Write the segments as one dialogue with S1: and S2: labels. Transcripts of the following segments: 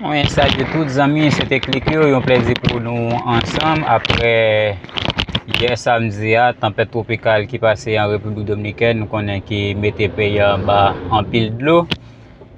S1: Mwen salye tout zanmi, se te klike yo, yon plezi pou nou ansanm apre yè samdi a, tanpèt twopikal ki pase an Repiblik Dominikèn, nou konnen ki mete peyi a anba anpil dlo.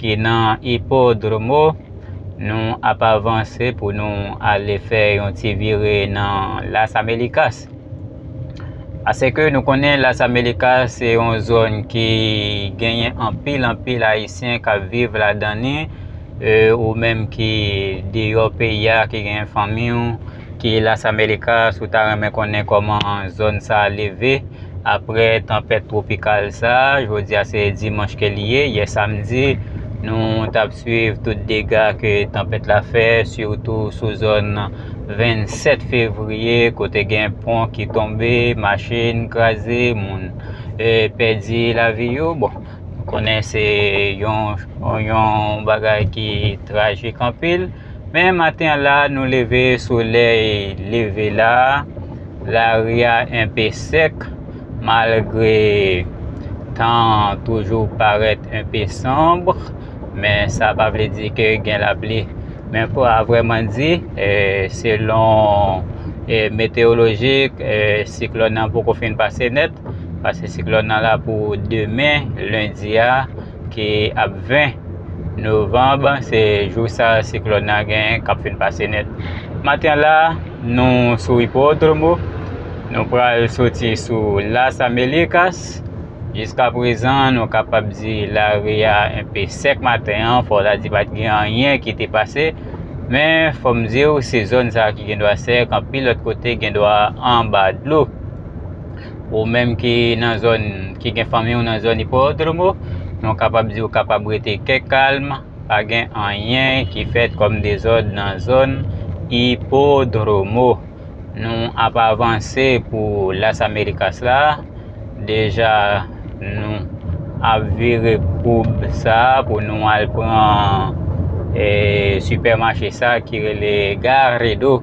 S1: ki nan Ipodromo, nou ap avanse pou nou ale fè yon ti vire nan Las Amelikas. Ase ke nou konnen Las Amelikas se yon zòn ki genyen anpil anpil Ayisyen k ap viv ladan ni, ou menm ki deyò peyi a, ki genyen fanmi ou, Keyla Sameleka si w ta renmen konnen kòman zòn sa leve aprè tanpèt twopikal sa, jodi a se dimanch ke li ye, yè samdi nou t ap swiv tout dega ke tanpèt la fè sitou sou zòn 27 fevriye kote gen pon ki tonbe, machin kraze, moun pèdi lavi yo, bon nou konnen se yon bagay ki trajik anpil. Men maten an la nou leve solèy leve la, lari a enpe sèk malgre tan an toujou parèt enpe sonb men sa pa vle di ke gen lapli. Men fò a vrèman di selon metewolojik siklòn nan poko fin pase nèt pase siklòn nan la pou demen lendi a. Ki ap 20 novanb, se jou sa siklòn nan genyen k ap fin pase nèt. Maten la, nou sou Hipódromo, nou pral soti sou Las Américas. Jiskaprezan, nou kapab di lari a enpe sèk maten an, fò w ta di pa t gen anyen ki te pase. Men, fò m di w, se zòn sa ki gendwa sèk, anpil lòt kote gendwa anba dlo. Ou menm ki nan zòn, ki gen fanmi ou nan zòn Hipódromo, nou kapab di ou kapab rete kè kalm, pa gen anyen ki fèt kòm dezòd nan zòn Hipódromo. Nou ap avanse pou Las Américas la, deja nou ap vire koub sa pou nou al pran sipèmache sa ki rele Garrido.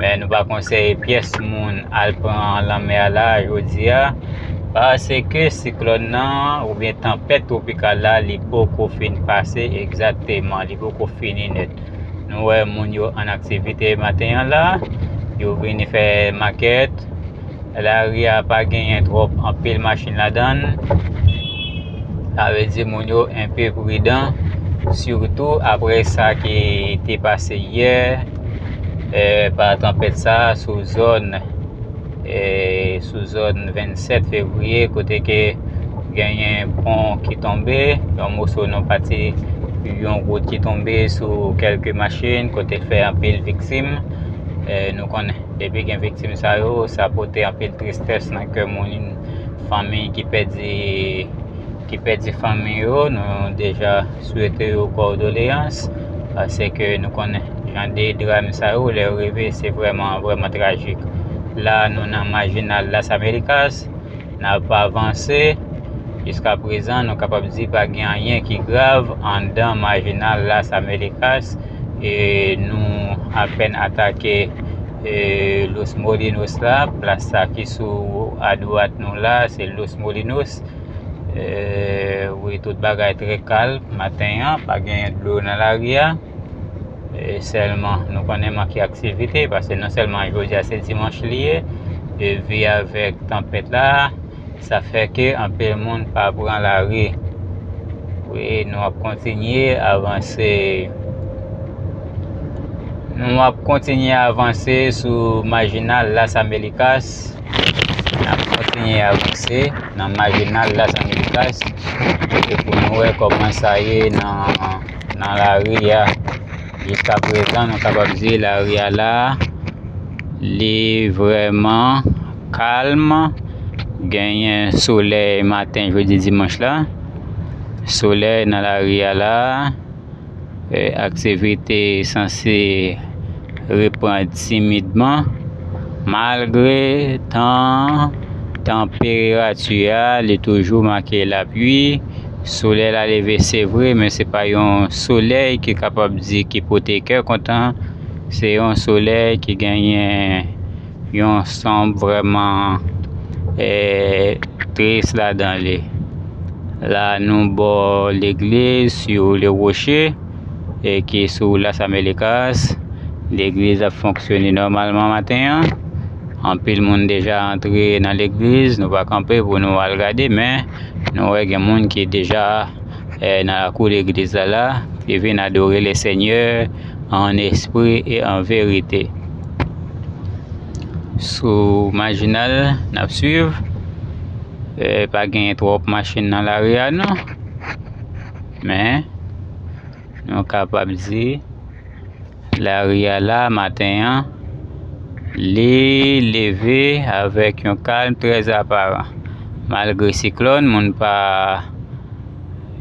S1: Men nou pa konseye pyès moun al pran lanmè a la jodi a paske siklòn nan oubyen tanpèt twopikal la li poko fin pase egzateman, li poko fini nèt. Nou wè moun yo an aktivite maten an la, yo vini fè makèt, Lari a pa genyen trop anpil machin ladan l. Sa vle di moun yo enpe pridan. Sitou apre sa ki te pase yè. Pa tanpèt sa sou zòn sou zòn 27 fevriye kote ke genyen pon ki tonbe. Yon moso nan pati yon wout ki tonbe sou kelke machin kote fè anpil viktim nou konnen. Depi gen viktim sa yo, sa pote anpil tristès nan kè moun, fanmi ki pèdi ki pèdi fanmi yo, nou deja swete yo kòdoleyans pase ke nou konnen jan de dram sa yo lè yo rive se vrèman vrèman trajik. La nou nan majinal las americas. N ap avanse. Jiska prezan nou kapab di pa gen anyen ki grav anndan Marginal Las Americas e nou apèn atake Los Molinos la. Plas sa ki sou adwat nou la a se Los Molinos. Wi tout bagay trè kalm maten an, pa gen dlo nan lari a. E sèlman nou konnen manke aktivite Pase non sèlman jodi a se dimanch li ye E vi avèk tanpèt la Sa fè ke anpe moun pa pran la ri Wi nou ap kontinye avanse Nou ap kontinye avanse sou majinal las amerikas Nou ap kontinye avanse nan majinal las amerikas Pou nou wè kòman sa ye nan nan lari a jiska prezan nou kapab di lari a la li vrèman kalm genyen solèy maten jodi dimanch la solèy nan lari a la aktivite sanse repran timidman malgre tan tanperati a li toujou make lapli Solèy la leve se vre men se pa yon solèy ki kapab di ki pote kè kontan, se yon solèy ki genyen yon sanm vrèman tris ladan li. La nou bò legliz Sur le Rocher ki sou Las Americas, legliz ap fonksyone nòmalman maten an, anpil moun deja antre nan legliz, nou va kanpe pou nou al gade men. Nou wè gen moun ki deja nan lakou legliz la la, ki vin adore Lesenyè an espri e an verite. Sou majinal n ap swiv, pa gen twòp machin nan lari a non, men nou kapab di. Lari a la maten an, li leve avèk yon kalm trè aparan. Malgre siklòn, moun pa,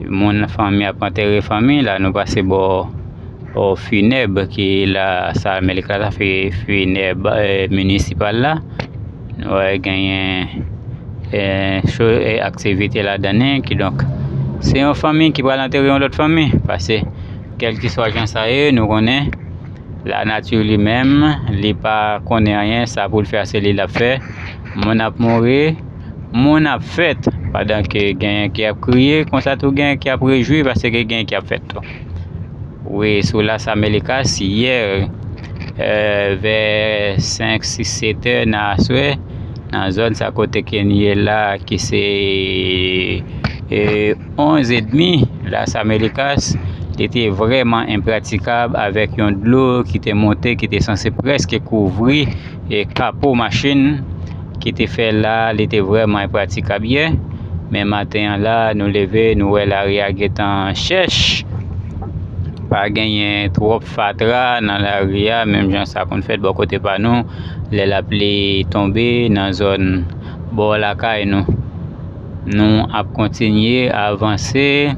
S1: moun fanmi ap antere fanmi, la nou pase bò finèb ki la sal mèt la, sa se finèb minisipal la, nou wè genyen aktivite ladan li, kidonk se yon fanmi ki pral antere yon lòt fanmi, pase. Kèlkeswa jan sa ye, nou konnen lanati li menm, li pa konnen anyen, sa pou l fè a se li l ap fè. Moun ap mouri, moun ap fèt, pandan ke genyen ki ap kriye, konsa tou genyen ki ap rejwi paske genyen ki ap fèt tou. Wi, sou Las Americas, yè, vè 5, 6, 7 è nan aswè, nan zòn sa kote ke n ye la, ki se. 11 edmi Las Americas li te vrèman enpratikab avèk yon dlo ki te monte ki te sanse prèske kouvri e kapo machin ki te fè la li te vrèman enpratikab yè men maten an la nou leve nou wè lari a gentan chèch pa genyen twòp fatra nan lari a menm jan sa konn fèt bò kote pa nou lè lapli tonbe nan zòn bò lakay nou. Nou ap kontinye avanse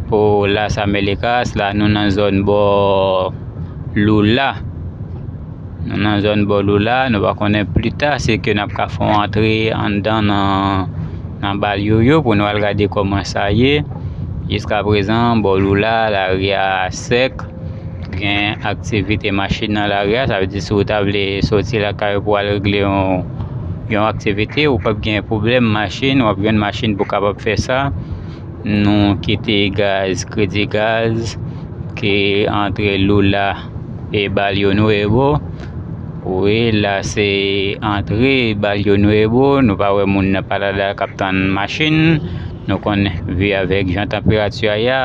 S1: pou Las Amélicas la nou nan zòn bò Lula nou nan zòn bò Lula nou va konnen plita se ke nap ka fon antre anndan nan nan balyo yo pou nou al gade kòman sa ye jiska prezan bò Lula larya sèk Gen aktivite machin nan lari a, sa vle di si ou ta vle soti lakay ou pou al regle yon aktivite ou pap gen pwoblèm machin, wap jwenn machin pou kapab fè sa, nou kite gaz, kredi gaz ki antre Lula e Barrio Nuevo, wi la se antre Barrio Nuevo, nou pa wè moun nan pa la la kap tann machin, nou konn vi avèk jan tanperati a ye a.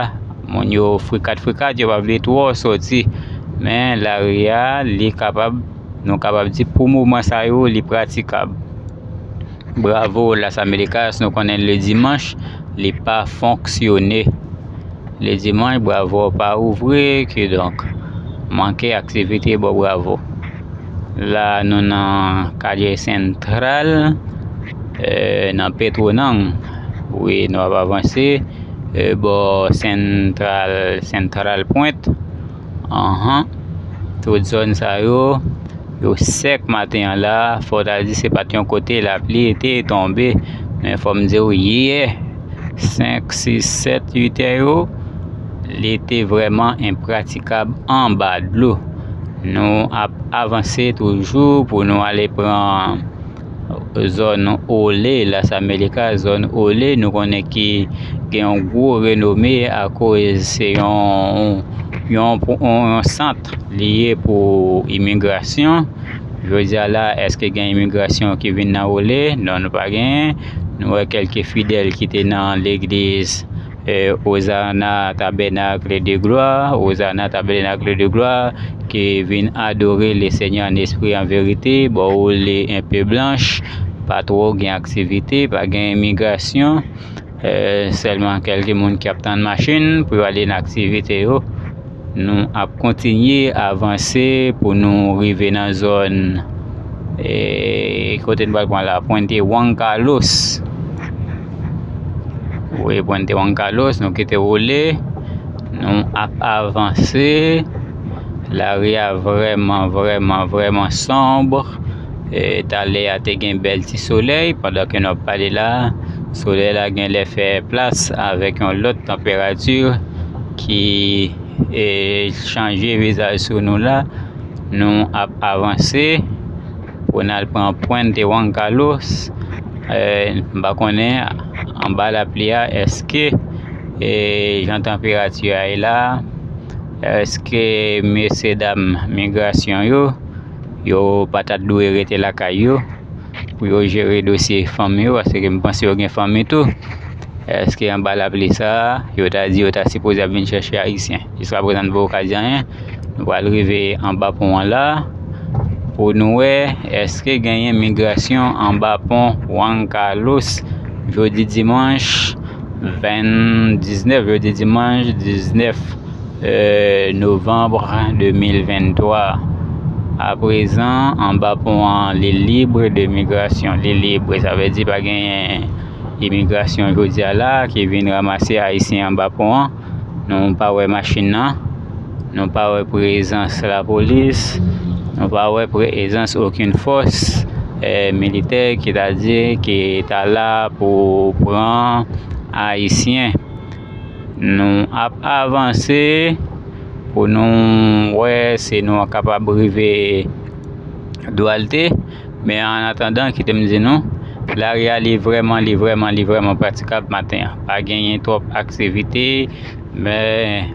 S1: Moun yo frikat frikat yo pa vle twò sòti men lari a li kapab nou kapab di pou moman sa yo li pratikab. Bravo Las Americas nou konnen le dimanch li pa fonksyone. Le dimanch bravo pa ouvri ki donk manke aktivite bò bravo. La nou nan kalye sentral nan petwonang wi nou ap avanse bò sentral sentral pwent anhan tout zòn sa yo yo sèk maten an la fò ta di se pa t yon kote lapli te tonbe men fò m di w yè senk sis sèt uitè yo li te vrèman enpratikab anba dlo Nou ap avanse toujou pou nou ale pran zòn Ole, Las Americas, zòn Ole nou konnen ki gen yon gwo renome akoz se yon sant li ye pou imigrasyon. Jodi a la èske gen imigrasyon ki vin nan Ole? Non nou pa genyen. Nou wè kèlke fidèl ki te nan legliz. Ozana tabènakle de glwa, Ozana tabènakle de glwa, Ke vin adore Lesenyè an espri an verite, Bò ou li enpe blanch, pa twò gen aktivite, pa gen imigrasyon, Sèlman kèlke moun ki ap tann machin pou yo ale nan aktivite yo. Nou ap kontinye avanse pou nou rive nan zòn kote nou pral pran la Puente Juan Carlos wi Puente Juan Carlos nou kite woule nou ap avanse lari a vrèman vrèman vrèman sonbre talè a te gen bèl ti solèy pandan ke nou ap pale la solèy la genlè fè plas avèk yon lòt tanperati. ki chanje vizaj sou nou la nou ap avanse pou n al pran Puente Juan Carlos m pa konnen anba lapli a èske jan tanperati a ye la èske mesye dam migrasyon yo yo pa ta dwe rete lakay yo pou yo jere dosye fanmi yo paske m panse yo gen fanmi tou. Eske anba lapli sa a, yo ta di yo ta sipoze ap vin chèche Ayisyen. Jiska prezan nou poko ka di anyen. Nou pral rive anba pon an la pou nou wè eske genyen migrasyon anba pon Juan Carlos jodi dimanch 20 19 jodi dimanch 19 Novembre 2023 A prezan, anba pon an, Lil Libre de Migration Lil Libre, sa vle di pa genyen imigrasyon jodi a la ki vin ranmase Ayisyen anba pon an. Nou pa wè machin nan, nou pa wè prezans lapolis, nou pa wè prezans okenn fòs militè ki ta di ki ta la pou pran Ayisyen. Nou ap avanse pou nou wè si nou kapab rive Duarte. Men an atandan, kite m di nou, lari a li vrèman, li vrèman, li vrèman pratikab maten an. Pa genyen twòp aktivite, men...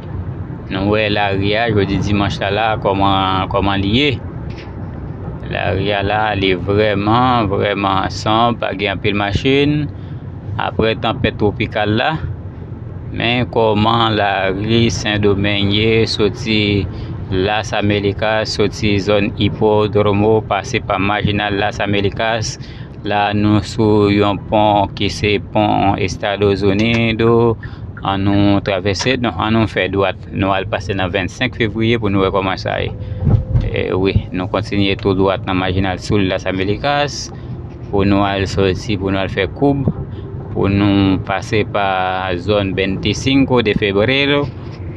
S1: Nou wè lari a jodi dimanch la la kòman kòman li ye. Lari a la li vrèman vrèman san pa gen anpil machin apre tanpèt twopikal la men kòman lari sendomeng ye soti las amerikas soti zòn ipodromo pase pa majinal las amerikas La a nou sou yon pon ki se pon Estados Unido, an nou travèse, non an nou fè dwat, nou al pase nan 25 fevriye pou nou wè kòman sa ye. E wi, nou kontinye tou dwat nan Majinal Sul Las Americas pou nou al soti, pou nou al fè koub, pou nou pase pa zòn 25 de Febrero,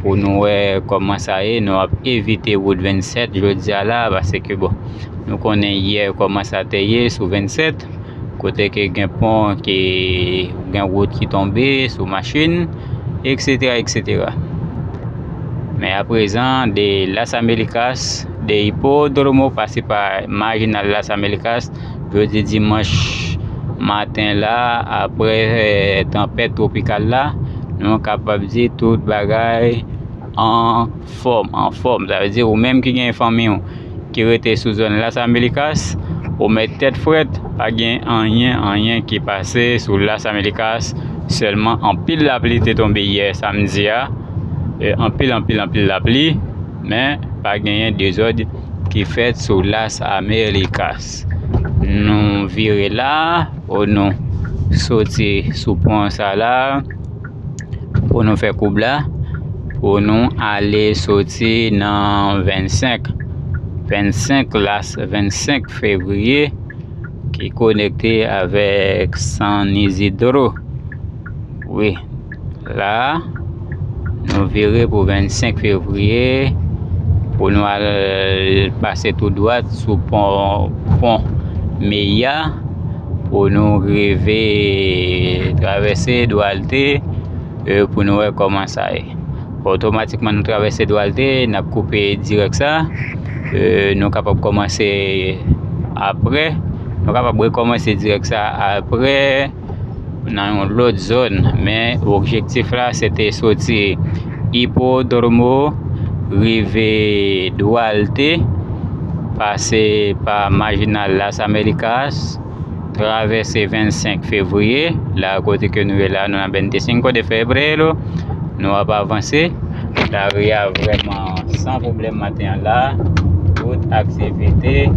S1: Pou nou wè kòman sa ye, nou ap evite wout 27 jodi a la a paske bon, nou konnen yè kòman sa te ye sou 27, kote ke gen pon ke gen wout ki tonbe sou machin, eksetera, eksetera. Men aprezan, de Las Americas, de Hipódromo pase pa Marginal Las Americas, Jodi dimanch maten la apre tanpèt twopikal la nou kapab di tout bagay anfòm, anfòm sa vle di ou menm ki gen fanmi w ki rete sou zòn Las Américas ou mèt tèt frèt pa gen anyen, anyen ki pase sou Las Américas sèlman anpil lapli te tonbe yè samdi a anpil, anpil, anpil lapli men pa genyen dezòd. ki fèt sou Las Américas. Nou vire la, ou nou soti sou pon sa la, pou nou fè koub la, pou nou ale soti nan 25, 25 Las, 25 Février, ki konekte avèk San Isidro, wi. la nou vire pou 25 fevriye pou nou al pase tou dwat sou pon pon Meya pou nou rive travèse Dwalte e pou nou wè koman sa ye. Otomatikman nou travèse Dwalte, n ap koupe dirèk sa, e nou kapab kòmanse apre, nou kapab rekòmanse dirèk sa apre. nan yon lòt zòn men objektif la se te soti Ipodromo rive Duarte pase pa Majinal Las Americas travèse 25 fevriye la kote ke nou ye la nou nan 25 de febrero nou ap avanse lari a vrèman san pwoblèm maten an la tout aktivite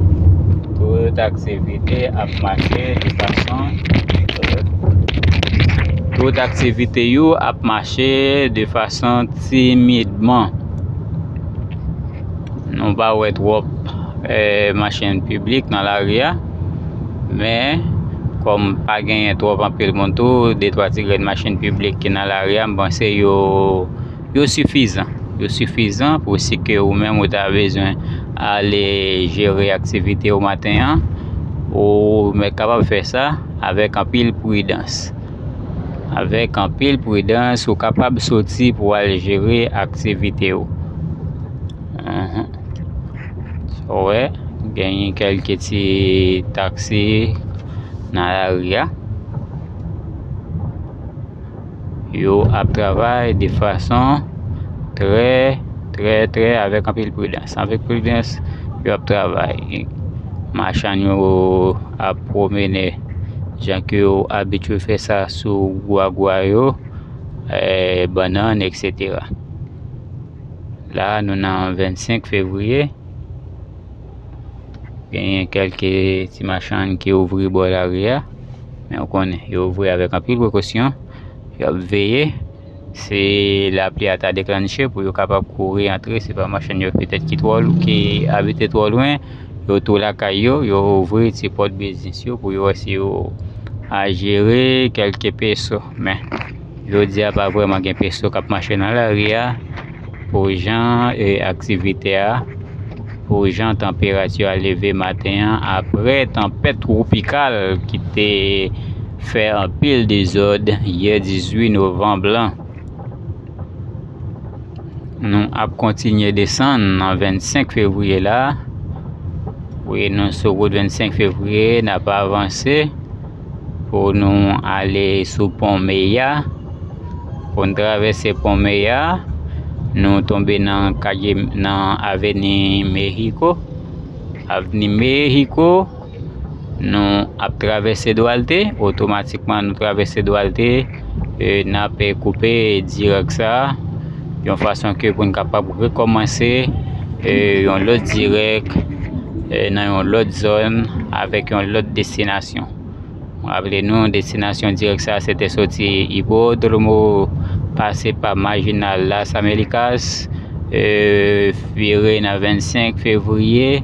S1: tout aktivite Kite ak mache de fason timid. Tout aktivite yo ap mache de fason timidman. Nou pa wè twòp machin piblik nan lari a, men kòm pa genyen twòp anpil moun tou, de twa ti grenn machin piblik ki nan lari a, m panse yo Yo sifizan. Yo sifizan pou si ke ou menm ou ta bezwen ale jere aktivite ou maten an, ou mèt kapab fè sa avèk anpil pridans. Avèk anpil pridans ou kapab soti pou al jere aktivite ou. Anhan. Sa ou wè, genyen kèlke ti taksi nan lari a. Yo ap travay de fason trè, trè, trè avèk anpil pridans. Avèk pridans yo ap travay. Machann yo ap pwomennen jan ke yo abitye fè sa sou gwa gwa yo, bannann, eksetera. La nou nan 25 fevriye. Genyen kelke ti machann ki ouvri bò lari a, men ou konnen yo ouvri avèk anpil prekosyon, y ap veye si lapli a ta deklannche pou yo kapab kouri antre, se pa machann yo petèt ki twò lou, ki abite twò lwen, yo tou lakay yo, yo ouvri ti pòt biznis yo pou yo wè si yo a jere kelke peso, men. Jodi a pa vrèman gen peso k ap mache nan lari a pou jan aktivite a, pou jan tanperati a leve maten an apre tanpèt twopikal ki te fè anpil dezòd yè 18 novanb lan. Nou ap kontinye desann nan 25 fevriye la, wi nou sou wout 25 fevriye n ap avanse. Pou nou ale sou pon Meya. Pou n travèse pon Meya, nou tonbe nan kalye nan aveni Mehiko. Avni Mehiko, nou ap travèse Dwalte, otomatikman nou travèse Dwalte. e nap koupe dirèk sa yon fason ke pou n kapab rekòmanse e yon lòt dirèk e nan yon lòt zòn avèk yon lòt destinasyon raple nou destinasyon dirèk sa se te soti ipodromo pase pa majinal las americas e vire nan 25 fevriye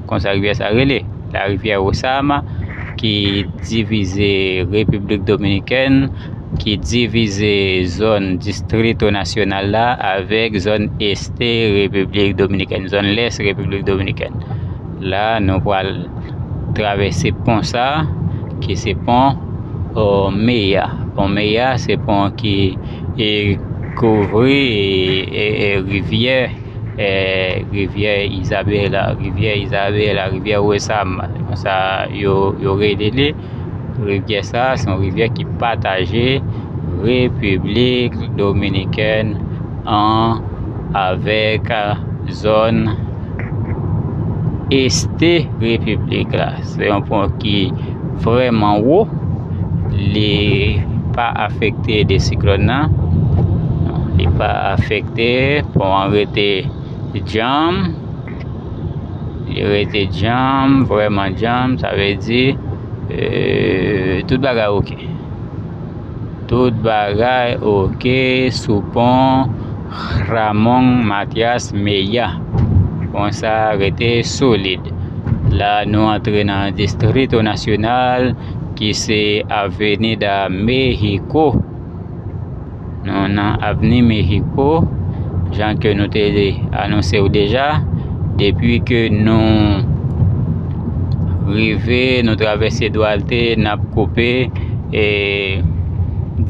S1: Konsa rivyè sa rele, la rivière Osama ki divize Repiblik Dominikèn, ki divize zòn Distrito Nacional la avèk zòn Este Repiblik Dominikèn, zòn Lès Repiblik Dominikèn. La nou pral travèse pon sa ki se pon Meya. Pon Meya se pon ki kouvri rivyè. rivyè Isabela, rivyè Isabela, rivyè Wesam, se konsa yo rele li, rivyè sa se yon rivyè ki pataje Repiblik Dominikèn an avèk zòn este repiblik la, se yon pon ki vrèman wo, li pa afekte de siklòn nan, li pa afekte. Rete, pon an rete djanm, li rete djanm, vrèman djanm, sa vle di tout bagay oke. Tout bagay oke sou pon Ramon Matias Mella. Pon sa rete solid. La nou antre nan Distrito Nacional ki se Avenida Mexico. Nou nan avni Mexico, jan ke nou te anonse ou deja, depi ke nou rive, nou travèse Duarte, nap koupe e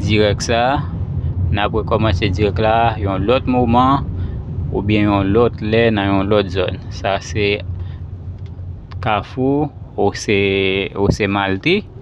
S1: dirèk sa, nap rekòmanse dirèk la yon lòt moman oubyen yon lòt lè nan yon lòt zòn. Sa se kafou ou se malte.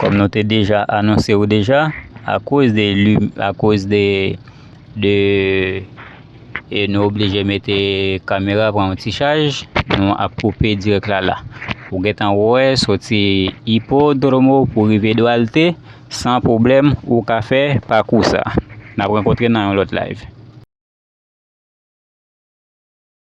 S1: Kòm nou te deja anonse ou deja, akoz de li, akoz de, de, e nou oblije mete kamera pran yon ti chaj, nou ap koupe dirèk la la. Ou gentan wè soti Ipodromo pou rive Duarte, san pwoblèm ou ka fè pakou sa. N ap rankontre nan yon lòt live.